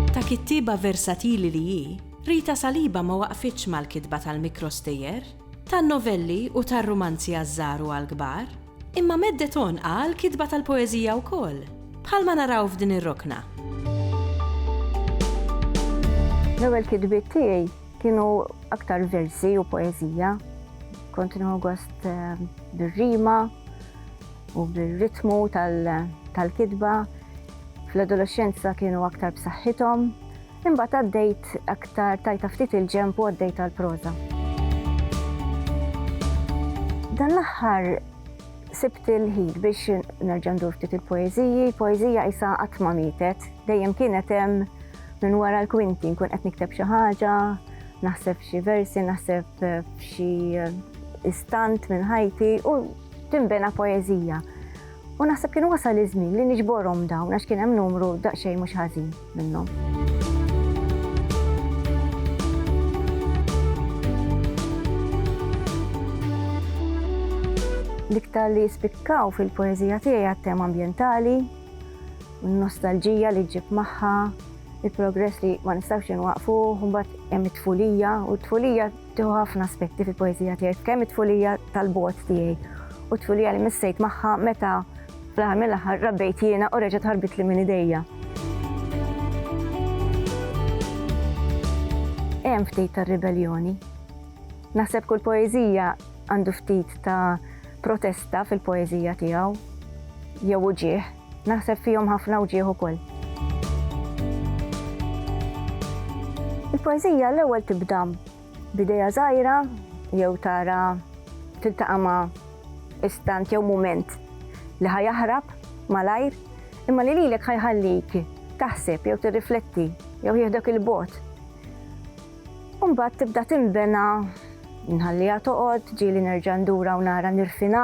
Ta' kittieba versatili li hi, Rita Saliba ma waqfitx mal-kitba tal-mikrostejjer, tan-novelli u tar-rumanzi għaż-żgħar u għall-kbar. Imma meddet għonqha għall-kitba tal-poeżija wkoll, bħalma naraw f'din ir-rokna. L-ewwel kitbiet tiegħi kienu aktar versi u poeżija. Kont nieħu gost eh, bir-rima u bir-ritmu tal-kitba. Fl-adolescenza kienu aktar b'saħħithom, Imbagħad għaddejt aktar tajta ftit il-ġenb u għaddejt għall-proża. Dan l-aħħar sibt il-ħin biex nerġa' ndur ftit il-poeżiji, poeżija isa qatt ma mietet, dejjem kienet hemm minn wara l-kwinti nkun qed nikteb xi ħaġa, naħseb xi versi, naħseb eh, xi eh, istant minn ħajti u timbena poezija. U naħseb kienu wasal iż-żmien li niġborhom dawn għax kien hemm numru daqsxejn mhux ħażin. minnhom. L-iktar li jispikkaw fil-poezija tiegħi għat-tema ambjentali, n-nostalġija li ġib magħha, il-progress li ma nistgħux inwaqfu, mbagħad hemm it-tfulija u t-tfulija Tieħu ħafna aspetti fil-poeżija tiegħi, kemm it-tfulija tal-bogħod tiegħi u t-tfulija li missejt magħha meta fl-aħħar mill-aħħar rabbejt jiena u reġgħet ħarbitli minn idejja. Hemm ftit tar-ribelljoni. Naħseb kull poeżija għandu ftit ta' protesta fil-poeżija tiegħu jew uġigħ. Naħseb fihom ħafna u ġieħ ukoll. Il-poeżija l-ewwel tibda b'idea żgħira jew tara tiltaqa' ma' istant jew mument li ħajaħrab malajr imma li lilek ħajħallik taħseb jew tirrifletti jew jieħdok il-bot. Umbagħad tibda tinbena nħalliha toqgħod, ġieli nerġa' ndura u nara nirfina,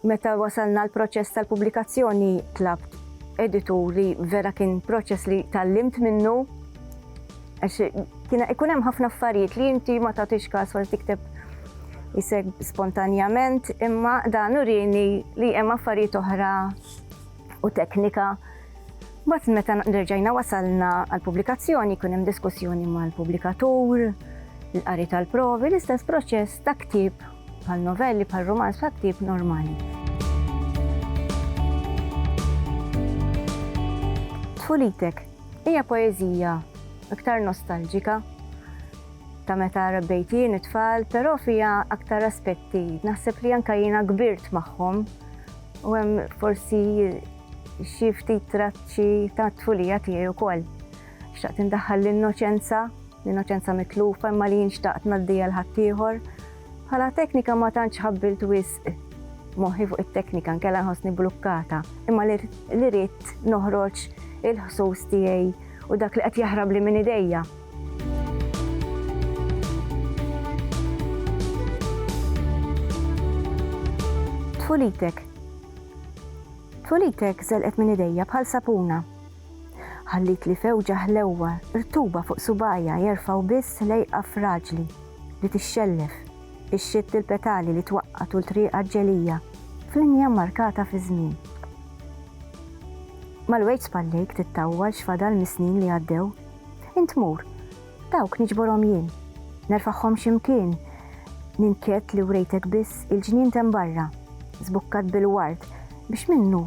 Meta wasalna għall-proċess tal-pubblikazzjoni tlabt editur li vera kien proċess li tgħallimt minnu għax kien ikun hemm ħafna affarijiet li inti ma tagħtix każ wara tikteb iseg spontanjament imma dan urini li hemm affarijiet oħra u teknika Bat meta nerġajna wasalna għal-publikazzjoni, kun hemm diskussjoni mal-publikatur, l-qari tal-provi, l-istess proċess ta' ktib Bħal novelli, bħal rumanz ta' ktieb normali. Tfulitek hija poeżija iktar nostalġika ta' meta rabbejt jien it-tfal, però fija aktar aspetti. Naħseb li anka jiena kbirt magħhom u hemm forsi xi ftit traċċi ta' tfulija tiegħi wkoll. Xtaqt indaħħal l-innoċenza l-innoċenza mitlufa imma li jien xtaqt ngħaddija l-ħaddieħor. Bħala teknika ma tantx ħabbilt wisq moħħi fuq it-teknika nkella nħossni blukkata, imma li rrid noħroġ il-ħsus tiegħi u dak li qed jaħrab li minn idejja. Tfulitek. Tfulitek żelqet minn idejja bħal sapuna. Ħallitli fewġa ħlewwa, rtuba fuq subgħajja jerfgħu biss lejqa fraġli li tixxellef, ixxitt il-petali li twaqqa' tul triqha ġġelija f'linja mmarkata fiż-żmien. Mal-wejġ spallejk tittawwal x'fadal mis-snin li għaddew. Int mur, dawk niġborhom jien, nerfagħhom xi mkien, ninkett li wrejtek biss il-ġnien t'hemm barra, żbukkat bil-ward biex minnu